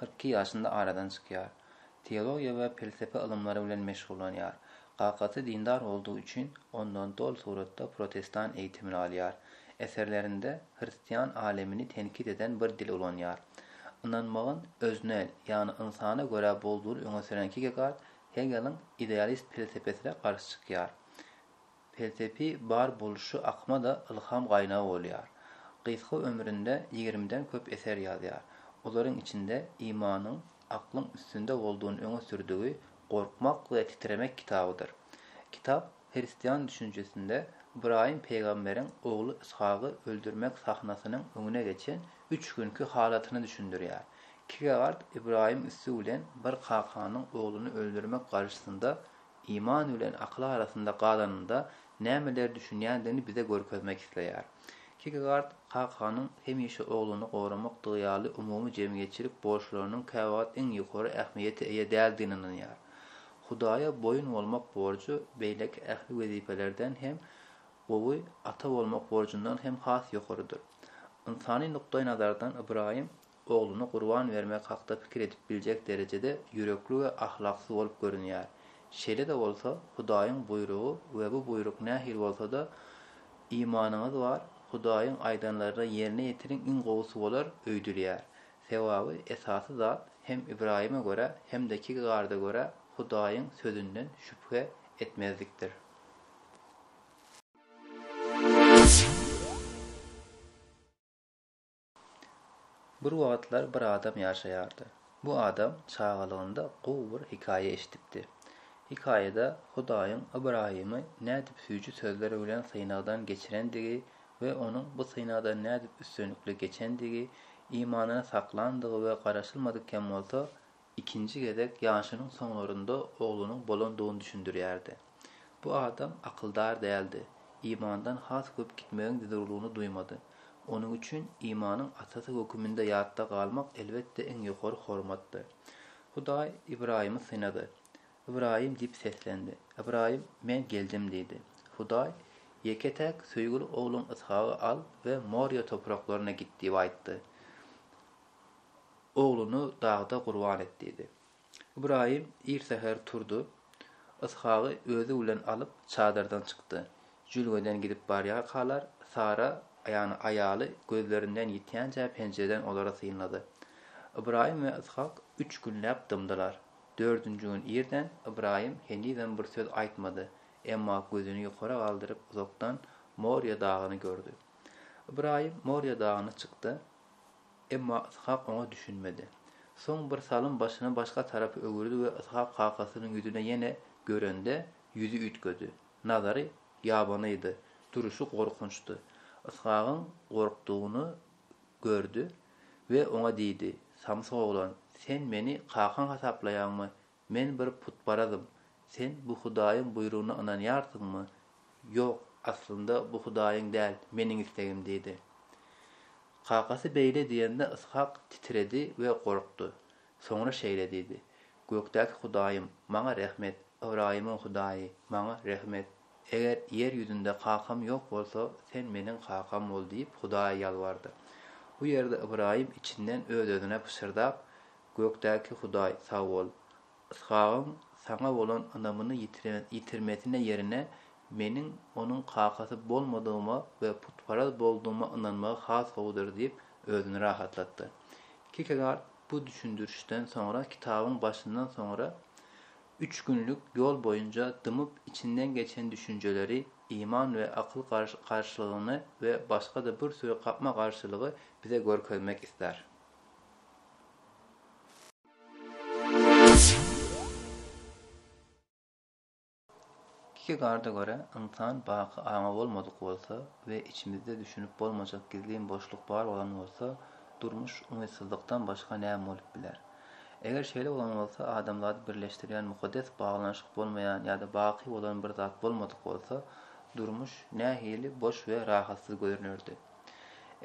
Kyrk iki ýaşynda aradan çykýar. Teologiýa we pelsepe ylymlary bilen meşgullanýar. Kakasy dindar boldugy üçin, ondan doly suratda protestan eýitimini alýar. Eserlerinde hristian alemini tenkit eden bir dil ulanýar. Ynanmagyň öznel, ýagny ynsana görä boldugyny öňe sürän Kierkegard Hegeliň idealist pelsepesine garşy çykýar. Pelsepi bar boluşy akyma-da ylham gaýnagy bolýar. Gysga ömründe ýigrimiden köp eser ýazýar. Olaryň içinde Imanyň aklyň üstünde boldugyny öňe sürdügi Gorkmak we titremek kitabydyr. Kitap hristian düşünjesinde Ybraýym pygamberiň ogly Yshagy öldürmek sahnasynyň öňüne geçen üç günki halatyny düşündirýär. Kigegard Ybraýym üsti bilen bir kakanyň ogluny öldürmek garşysynda iman bilen akyl arasynda galanynda nämeleri düşünýändigini bize görkezmek isleýär. Kierkegaard kakanyň hemişe ogluny goramakdygy ýaly umumy jemgyýetçilik borçlarynyň käwagt iň ýokary ähmiýete eýe däldigine ynanýar. Hudaýa boýun bolmak borjy beýleki ähli wezipelerden hem gowy, ata bolmak borjundan hem has ýokarydyr. Ynsany nukdaýnazardan Ybraýym ogluny gurban bermek hakda pikir edip biljek derejede ýürekli we ahlaksyz bolup görünýär. Şeýle-de bolsa, Hudaýyň buýrugy we bu buýruk nähili bolsa-da, Imanyňyz bar, Hudaýyň aýdanlaryny ýerine ýetiriň iň gowusy bolar öýdülýär. Sebabi esasy zat hem Ybraýyma görä, hem-de Kirgarda görä Hudaýyň Sözünden şübhe etmezlikdir. Bir wagtlar bir adam ýaşaýardy. Bu adam çagalygynda gowy bir hekaýa eşidipdi. Hekaýada Hudaýyň Ybraýymy nädip süýji sözler bilen synagdan geçirendigi we onuň bu synagdan nädip üstünlikli geçendigi, imanyny saklandygy we garaşylmadyk hem bolsa, Ikinji gezek ýaşynyň soňlarynda oglunyň bolandygyny düşündirýärdi. Bu adam akyldar däldi, imandan has köp gitmegiň zerurlygyny duýmady. Onuň üçin imanyň atasy höküminde ýatda galmak elbetde iň ýokary hormatdy. Hudaý Ybraýymy synady. Ybraýym diýip seslendi. Ybraýym, Men geldim diýdi. Hudaý, Ýeke-täk söýgüli ogluň Yshagy al we Morýa topraklaryna git diýip aýtdy. Ogluny dagda gurban et diýdi. Ybraýym ir säher turdy. Yshagy özi bilen alyp, çadyrdan çykdy. Jülgeden gidip barýarkalar, Sara, ýagny aýaly gözlerinden ýitýänçä penjireden olara synlady. Ybraýym we Yshak üç günläp dymdylar. Dördünji gün irden Ybraýym henizem bir söz aýtmady, emma gözüni ýokara galdyryp uzakdan Morýa dagyny gördi. Ybraýym Morýa dagyna çykdy. Emma Yshak oňa düşünmedi. Soň birsalym başyny başga tarapa öwürdi we Yshak kakasynyň ýüzüne ýene görende, ýüzi üýtgedi. Nazary ýabanydy, duruşy gorkunçdy. Yshagyň gorkdugyny gördi we oňa diýdi, Samsyk oglan, sen meni kakaň hasaplaýaňmy? Men bir putparazym. Sen bu Hudaýyň buýrugyna ynanýarsyňmy? Ýok, aslynda bu Hudaýyň däl, meniň islegim diýdi. Kakasy beýle diýende Yshak titredi we gorkdy. Soňra şeýle diýdi, Gökdäki Hudaýym, maňa rehm et! Ybraýymyň Hudaýy, maňa rehm et! Eger ýer ýüzünde kakam ýok bolsa, sen meniň kakam bol diýip Hudaýa ýalbardy. Bu ýerde Ybraýym içinden öz-özüne pyşyrdap, Gökdäki Hudaý, sag bol! Yshagyň saňa bolan ynamyny ýitirmesine ýerine, meniň onuň kakasy bolmadygyma we putparaz boldugyma ynanmagy has gowudyr diýip, özüni rahatlatdy. Kierkegaard bu düşündirişden soňra kitabyň başyndan soňra üç günlük ýol boýunça dymyp içinden geçen düşünjeleri, iman we akyl garşylygyny we başga-da bir süri gapma-garşylygy bize görkezmek ister. Kierkegaarda görä, ynsan baky aňy bolmadyk bolsa we içimizde düşünip bolmajak gizlin boşluk bar bolan bolsa, durmuş umytsyzlykdan başga näme bolup biler? Eger şeýle bolan bolsa, adamzady birleşdirýän mukaddes baglanyşyk bolmaýan ýa-da baky bolan bir zat bolmadyk bolsa, durmuş nähili boş we rahatsyz görünerdi?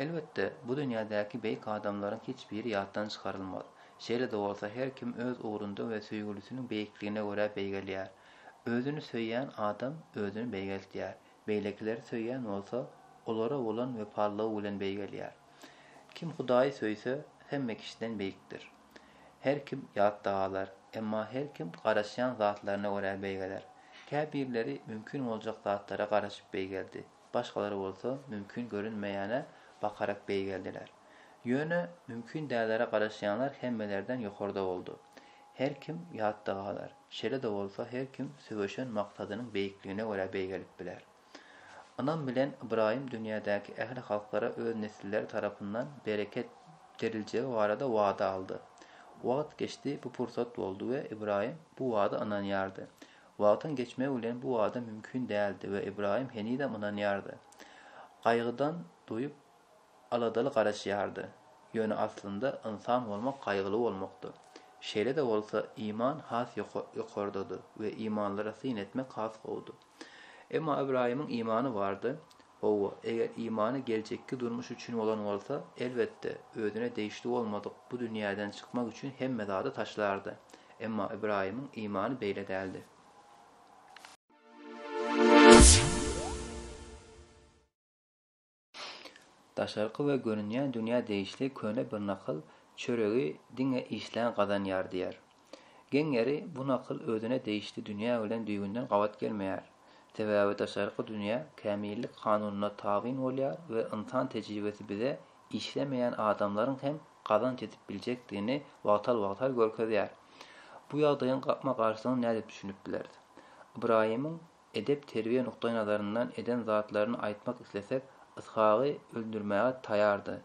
Elbetde, bu dünýädäki beýik adamlaryň hiç biri ýatdan çykarylmaz. Şeýle-de bolsa, her kim öz ugrunda we söýgülisiniň beýikligine görä beýgelýär. Özüni söýýän adam özüni beýgeltýär. Beýlekileri söýýän bolsa, olara bolan wepalylygy bilen beýgelýär. Kim Hudaýy söýse, hemme kişiden beýikdir. Her kim ýatda galar, emma her kim garaşýan zatlaryna görä beýgeler. Käbirleri mümkin boljak zatlara garaşyp beýgeldi. Başgalar bolsa mümkin görünmeýäne bakarak beýgeldiler. Ýöne mümkin dälere garaşýanlar hemmelerden ýokarda boldy. Her kim ýatda galar. Şeýle-de bolsa her kim söweşen maksadynyň beýikligine görä beýgelip biler. Ynam bilen Ybraýym dünýädäki ähli halklara öz nesilleri tarapyndan bereket beriljegi barada wada aldy. Wagt geçdi, bu pursat boldy we Ybraýym bu wada ynanýardy. Wagtyň geçmegi bilen bu wada mümkin däldi we Ybraýym henizem ynanýardy. Gaýgydan doýup, aladaly garaşýardy. Ýöne aslynda ynsan bolmak gaýgyly bolmakdy. Şeýle-de bolsa, iman has ýokardady we imanlara syn etmek has gowudy. Emma Ybraýymyň imany bardy, Hawa, eger imany geljekki durmuş üçin bolan bolsa, elbetde, özüne degişli bolmadyk bu dünýäden çykmak üçin hemme zady taşlardy. Emma Ybraýymyň imany beýle däldi. Daşarky we görünýän dünýä degişli köne bir nakyl, Çöregi diňe işlän gazanýar diýýär. Geň ýeri, bu nakyl özüne degişli dünýä bilen düýbünden gabat gelmeýär. Sebäbi daşarky dünýä kämillik kanunyna tabyn bolýar we ynsan tejribesi bize işlemeýän adamlaryň hem gazanç edip biljekdigini wagtal-wagtal görkezýär. Bu ýagdaýyň gapma-garşylygyny nädip düşünip bileris? Ybraýymyň edep-terbiýe nukdaýnazaryndan eden zatlaryny aýtmak islesek, Yshagy öldürmäge taýardy.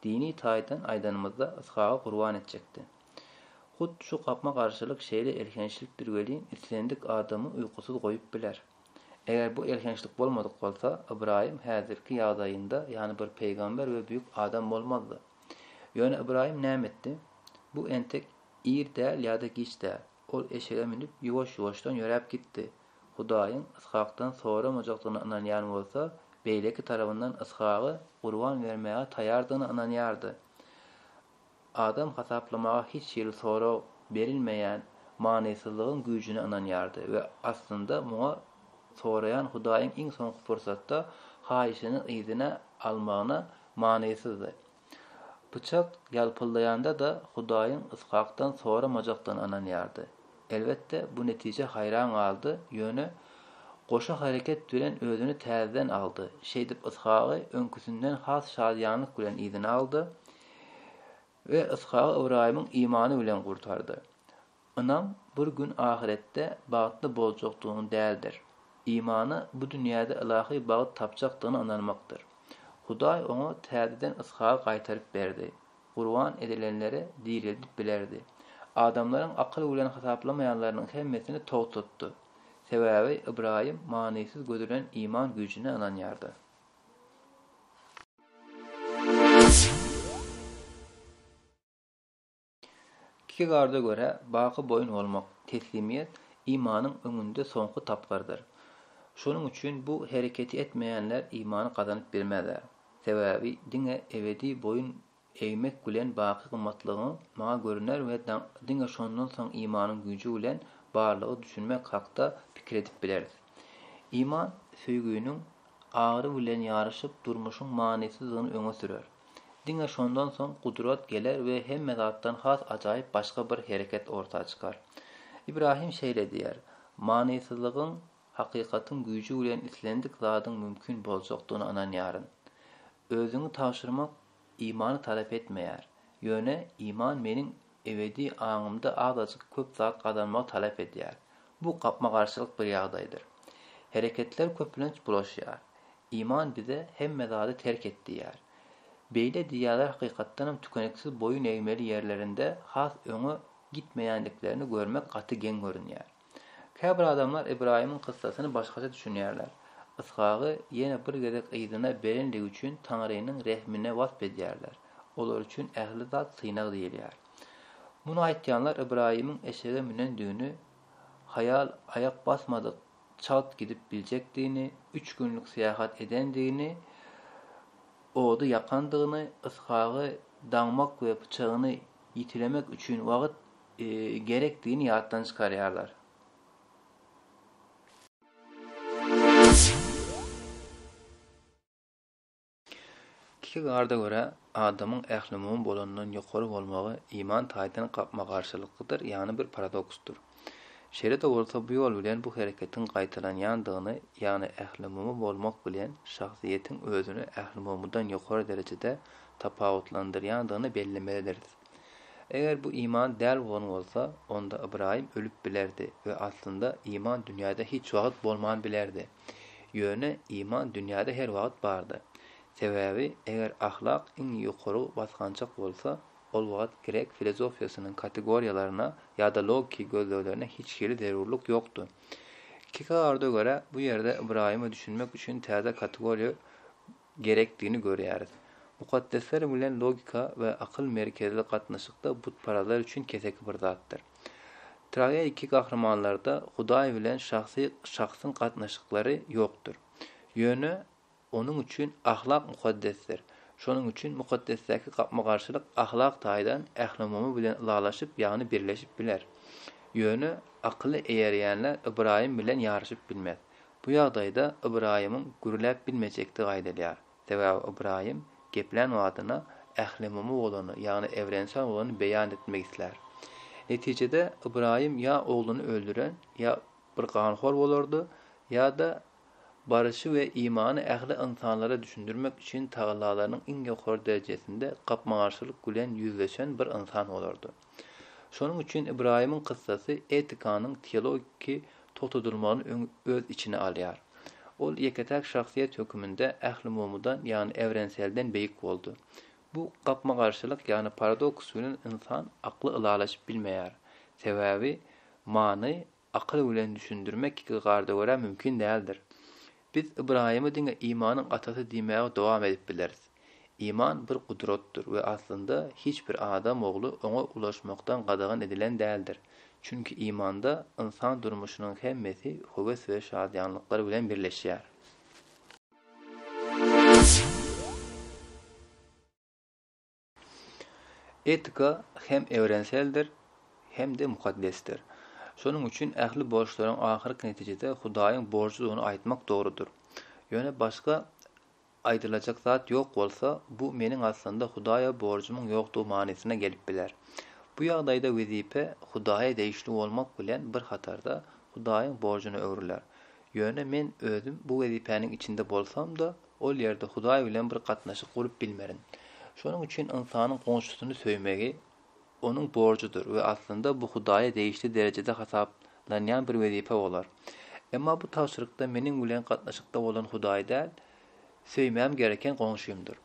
Dini taýdan aýdanymyzda, Yshagy gurban etjekdi. Hut şu gapma-garşylyk şeýle elhençlikdir welin, islendik adamy uýkusyz goýup biler. Eger bu elhençlik bolmadyk bolsa, Ybraýym häzirki ýagdaýynda ýany bir pygamber we büýük adam bolmazdy. Ýöne Ybraýym näme etdi? Bu entek ir däl ýa-da giç däl. Ol eşege münüp, ýuwaş-ýuwaşdan ýöräp gitdi. Hudaýyň Yshakdan soramajakdygyna ynanýan bolsa, beýleki tarabyndan Yshagy gurban bermäge taýardygyna ynanýardy. Adam hasaplamaga hiç hili sorag berilmeýän manysyzlygyň güýjüne ynanýardy we aslynda muňa soraýan Hudaýyň iň soňky pursatda haýyşyny yzyna almagyna manysyzdy. Pyçak ýalpyldaýanda-da Hudaýyň Yshakdan soramajakdygyna ynanýardy. Elbetde, bu netijä haýran galdy, ýöne goşa hereket bilen özüni täzeden aldy, şeýdip Yshagy öňküsinden has şadyýanlyk bilen yzyna aldy, We Yshagy Ybraýymyň imany bilen gurtardy. Ynam bir gün ahyretde bagtly boljakdygyň däldir. Imana bu dünýäde ylahy bagt tapjakdygyna ynanmakdyr. Hudaý oňa täzeden Yshagy gaýtaryp berdi. Gurban edilenleri direldip bilerdi. Adamlaryň akyl bilen hasaplamaýanlarynyň hemmesini togtatdy. Sebäbi Ybraýym manysyz gödelen iman güýjüne ynanýardy. Kierkegaarda görä, baky boýun bolmak, teslimiýet, imanyň öňünde soňky tapgyrdyr. Şonuň üçin bu hereketi etmeýänler imany gazanyp bilmezler. Sebäbi diňe ebedi boýun Egmek bilen baky gymmatlygyň maňa görüner we diňe şondan soň imanyň güýji bilen barlyga düşünmek hakda pikir edip bileris. Iman söýginiň agyry bilen ýaryşyp durmuşyň manysyzdygyny öňe sürer. Diňe şondan soň gudrat geler we hemme zatdan has ajaýyp başga bir hereket orta çykar. Ibrahim şeýle diýýär, Manysyzlygyň hakykatyň güýji bilen islendik zadyň mümkin boljakdygyna ynanýaryn. Özüňi tabşyrmak imany talap etmeýär. Ýöne iman meniň ebedi aňymda azajyk köp zat gazanmagy talap edýär. Bu gapma-garşylyk bir ýagdaýdyr. Hereketler köplenç bulaşýar. Iman bize hemme zady terk et diýýär. Beýle diýýänler hakykatdanam tükeniksiz boýun egmeli ýerlerinde has öňe gitmeýändiklerini görmek gaty geň görünýär. Käbir adamlar Ybraýymyň kyssasyny başgaça düşünýärler. Yshagy ýene bir gezek yzyna berendigi üçin Taňrynyň rehmine wasp edýärler. Olar üçin ähli zat synag diýilýär. Muny aýtýanlar Ybraýymyň eşege münendigini, haýal aýak basmadyk çalt gidip biljekdigini, üç günlük syýahat edendigini, ody ýakandygyny, Yshagy daňmak we pyçagyny ýitilemek üçin wagt gerekdigini ýatdan çykarýarlar. Kierkegaarda görä, adamyň ählumumy bolandan ýokary bolmagy iman taýdan gapma-garşylyklydyr, ýagny bir paradoksdyr. Şeýle-de bolsa, bu ýol bilen bu hereketiň gaýtalanýandygyny, ýagny ählumumy bolmak bilen şahsyýetiň özüni ählumumydan ýokary derejede tapawutlandyrýandygyny bellemelidiris. Eger bu iman däl bolan bolsa, onda Ybraýym ölüp bilerdi we aslynda iman dünýäde hiç wagt bolman bilerdi. Ýöne iman dünýäde her wagt bardy. Sebäbi eger ahlak iň ýokary basgançak bolsa, ol wagt grek filozofiýasynyň kategoriýalaryna ýa-da logiki gözleglerine hiç hili zerurlyk ýokdy. Kierkegaarda görä, bu ýerde Ybraýyma düşünmek üçin täze kategoriýa gerekdigini görýäris. Mukaddesler bilen logika we akyl merkezli gatnaşykda butparazlar üçin keseki bir zatdyr. Trageiki gahrymanlarda Hudaý bilen şahsy şahsyň gatnaşyklary ýokdur. Ýöne onuň üçin ahlak mukaddesdir. Şonuň üçin mukaddesdäki gapma-garşylyk ahlak taýdan ählumumy bilen ylalaşyp, ýagny birleşip biler. Ýöne akyly eýerýänler Ybraýym bilen ýaryşyp bilmez. Bu ýagdaýda Ybraýymyň gürläp bilmejekdigi aýdylýar. Sebäbi Ybraýym geplän badyna ählumumy bolany, ýagny evrensel bolany beýan etmek islär. Netijede Ybraýym ýa ogluny öldüren, ýa bir ganhor bolardy, ýa-da baryşy we imany ähli ynsanlara düşündirmek üçin tagallalarynyň iň ýokary derejesinde gapma-garşylyk bilen ýüzleşen bir ynsan bolardy. Şonuň üçin Ybraýymyň kyssasy etikanyň teologiki togtadylmagyny öň öz içine alýar. Ol ýeke-täk şahsyýet höküminde ählumumydan, ýagny ewrenselden beýik boldy. Bu gapma-garşylyk, ýagny paradoks bilen ynsan akly ylalaşyp bilmeýär. Sebäbi many Akyl bilen düşündirmek iki garda görä mümkin däldir. Biz Ybraýymy diňe imanyň atasy diýmäge dowam edip bileris. Iman bir gudratdyr we aslynda hiç bir adam ogly oňa ulaşmakdan gadagan edilen däldir. Çünki imanda ynsan durmuşynyň hemmesi höwes we şadyýanlyklar bilen birleşýär. Etika hem ewrenseldir, hem-de mukaddesdir. Şonuň üçin ähli borçlaryň ahyrky netijede Hudaýyň borjudygyny aýtmak dogrudyr. Ýöne başga aýdylajak zat ýok bolsa, bu meniň aslynda Hudaýa borjumyň ýokdugy manysyna gelip biler. Bu ýagdaýda wezipe Hudaýa degişli bolmak bilen bir hatarda Hudaýyň borjuna öwrüler. Ýöne men özüm bu wezipäniň içinde bolsam-da, Ol ýerde Hudaý bilen bir gatnaşyk gurup bilmerin. Şonuň üçin ynsanyň goňşusyny söýmegi onuň borjudyr we aslynda bu Hudaýa degişli derejede hasaplanýan bir wezipe bolar. Emma bu tabşyrykda meniň bilen gatnaşykda bolan Hudaý däl, söýmem gereken goňşymdyr.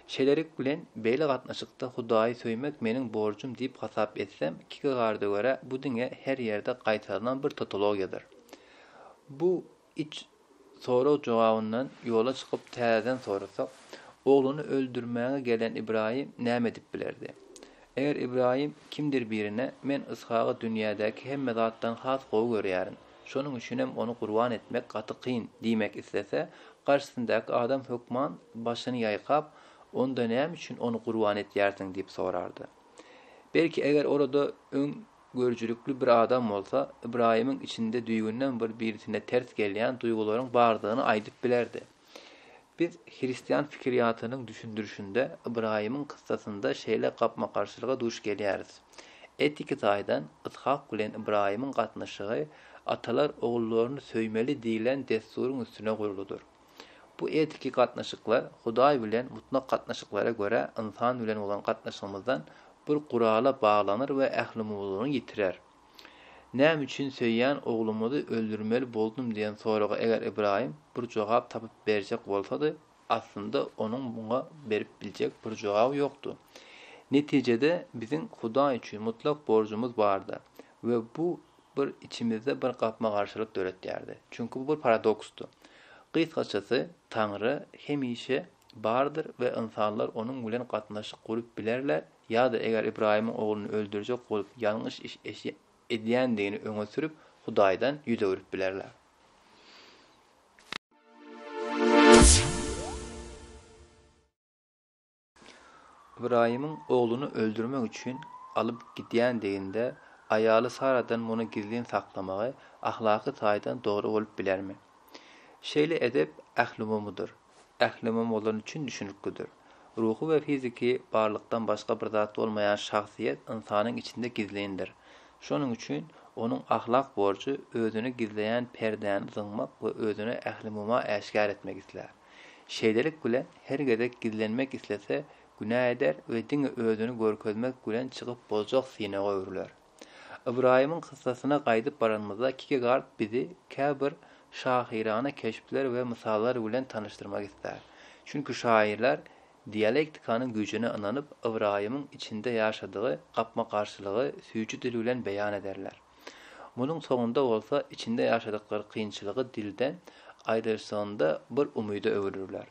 Şeýlelik bilen, beýle gatnaşykda Hudaýy söýmek meniň borjum diýip hasap etsem, Kierkegaarda görä, bu diňe her ýerde gaýtarylan bir totologiýadyr. Bu Üç sorag jogabyndan ýola çykyp täzeden sorasak, ogluny öldürmäge gelen Ybraýym näme edip bilerdi? Eger Ybraýym kimdir birine men Yshagy dünýädäki hemme zatdan has gowy görýärin, şonuň üçinem ony gurban etmek gaty kyn diýmek islese, garşysyndaky adam hökman başyny ýaýkap, onda näme üçin ony gurban etýärsiň diýip sorardy. Belki eger orada öň Görüjilikli bir adam bolsa, Ybraýymyň içinde düýbünden bir birisine ters gelýän duýgularyň bardygyny aýdyp bilerdi. Biz hristian pikiriýatynyň düşündirişinde Ybraýymyň kyssasynda şeýle gapma-garşylyga duş gelýäris. Etiki taýdan Yshak bilen Ybraýymyň gatnaşygy atalar ogullaryny söýmeli diýlen dessuryň üstüne gurludyr. Bu etiki gatnaşyklar Hudaý bilen mutlak gatnaşyklara görä ynsan bilen bolan gatnaşygymyzdan bir gurala baglanar we ählumuwlulugyny ýitirer. Näme üçin söýýän oglumyzy öldürmeli boldum diýen soraga eger Ybraýym bir jogap tapyp berjek bolsady, aslynda onuň muňa berip biljek bir jogaby ýokdy. Netijede biziň Hudaý üçin mutlak borjumyz bardy we bu Bu içimizde bir gapma-garşylyk döretýärdi. Çünki bu bir paradoksdy. Gysgaçasy, Taňry hemişe bardyr we ynsanlar onuň bilen gatnaşyk gurup bilerler ýa-da eger Ybraýymyň ogluny öldürjek bolup ýalňyş iş edýändigini öňe sürüp, Hudaýdan ýüz öwrüp bilerler. Ybraýymyň ogluny öldürmek üçin alyp gidýändiginde aýaly Saradan muny gizlin saklamagy ahlaky taýdan dogry bolup bilermi? Şeýle edep ählumumydyr. Ählumum bolan üçin düşüniklidir. Ruhy we fiziki barlykdan başga bir zat bolmaýan şahsyýet ynsanyň içinde gizlindir. Şonuň üçin onuň ahlak borjy özüni gizleýän perdäni zyňmak we özüni ählumuma äşgär etmek islär. Şeýlelik bilen, her gezek gizlenmek islese, günä eder we diňe özüni görkezmek bilen çykyp boljak synaga öwrüler. Ybraýymyň kyssasyna gaýdyp baranymyzda Kierkegard bizi käbir şahyrana keşpler we mysallar bilen tanyşdyrmak islär. Çünki şaýyrlar Dialektikanyň güýjüne ynanyp, Ybraýymyň içinde ýaşadygy gapma-garşylygy süýji dil bilen beýan ederler. Munuň soňunda bolsa içinde ýaşadyklary kynçylygy dilden aýrylyşygynda bir umyda öwürürler.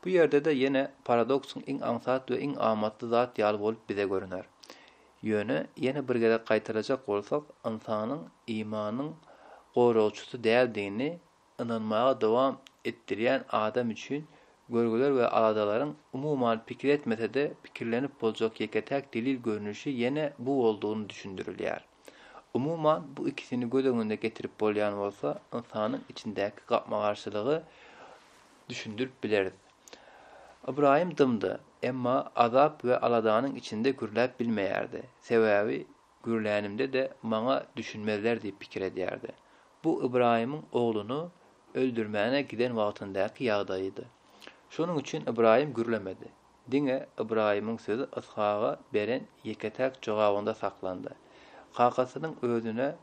Bu ýerde-de ýene paradoksyň iň aňsat we iň amatly zat ýaly bolup bize görüner. Ýöne, ýene bir gezek gaýtalajak bolsak, ynsanyň imanyň goragçysy däldigini ynanmaga dowam etdirýän adam üçin görgüler we aladalaryň umuman pikir etmese-de pikirlenip boljak ýeke-täk delil görnüşi ýene bu boldugyny düşündirilýär. Umuman, bu ikisini göz öňüne getirip bolýan bolsa, ynsanyň içindäki gapma-garşylygy düşündirip bileris. Ybraýym dymdy, emma azap we aladanyň içinde gürläp bilmeýärdi, sebäbi Gürlänimde-de maňa düşünmezler diýip pikir edýärdi. Bu Ybraýymyň ogluny öldürmäne giden wagtyndaky ýagdaýydy. Şonuň üçin Ybraýym gürlemedi. Diňe Ybraýymyň sözi Yshaga beren ýeke-täk jogabynda saklandy. Kakasynyň özüne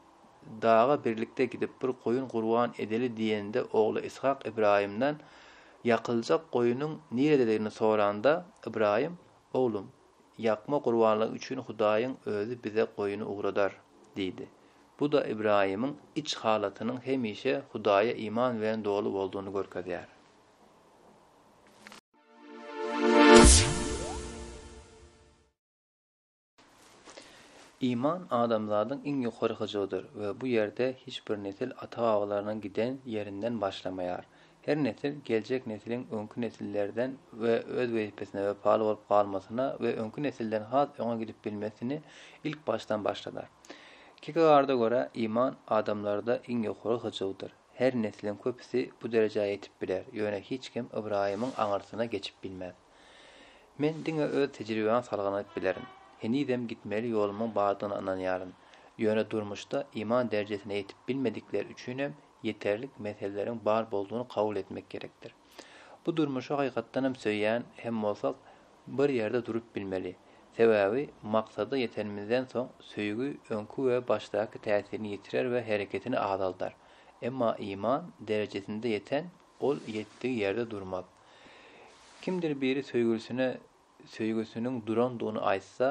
daga birlikde gidip bir goýun gurban edeli diýende ogly Yshak Ybraýymdan ýakyljak goýunyň nirededigini soranda, Ybraýym, Oglum, Ýakma gurbanlygy üçin Hudaýyň Özi bize goýny ugradar diýdi. Bu-da Ybraýymyň iç halatynyň hemişe Hudaýa iman bilen doly boldugyny görkezýär. Iman adamzadyň iň ýokary hyjuwydyr we bu ýerde hiç bir nesil ata-babalarynyň giden ýerinden başlamaýar. Her nesil geljek nesliň öňki nesillerden we öz wezipesine wepaly bolup galmasyna we öňki nesilden has öňe gidip bilmesini ilk başdan başladar. Kierkegaarda görä, iman adamlarda iň ýokary hyjuwdyr. Her nesliň köpüsi bu derejä ýetip biler, ýöne hiç kim Ybraýymyň aňyrsyna geçip bilmez. Men diňe öz tejribäme salgylanyp bilerin. Henizem gitmeli ýolumyň bardygyna ynanýaryn. Ýöne durmuşda iman derejesine ýetip bilmedikler üçinem ýeterlik meseleleriň bar boldugyny kabul etmek gerekdir. Bu durmuşy hakykatdan hem söýýän hem bolsak, bir ýerde durup bilmeli. Sebäbi, maksada ýetenimizden soň, söýgi öňki we başdaky täsirini ýitirer we hereketini azaldar. Emma iman derejesinde ýeten, ol ýetdigi ýerde durmaz. Kimdir biri söýgülisine söýgüsiniň durandygyny aýtsa,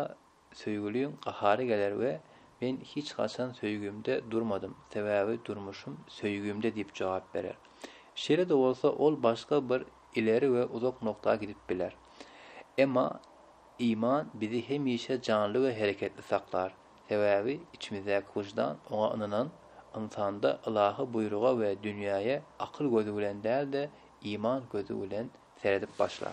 Söýgüliň gahary geler we Men hiç haçan söýgimde durmadym, sebäbi durmuşym söýgimde diýip jogap berer. Şeýle-de bolsa, ol başga bir ileri we uzak nokta gidip biler. Emma iman bizi hemişe janly we hereketli saklar, sebäbi içimizdäki wyždan oňa ynanan ynsanda ylahy buýruga we dünýäe akyl gözi bilen däl-de, iman gözi bilen seredip başlar.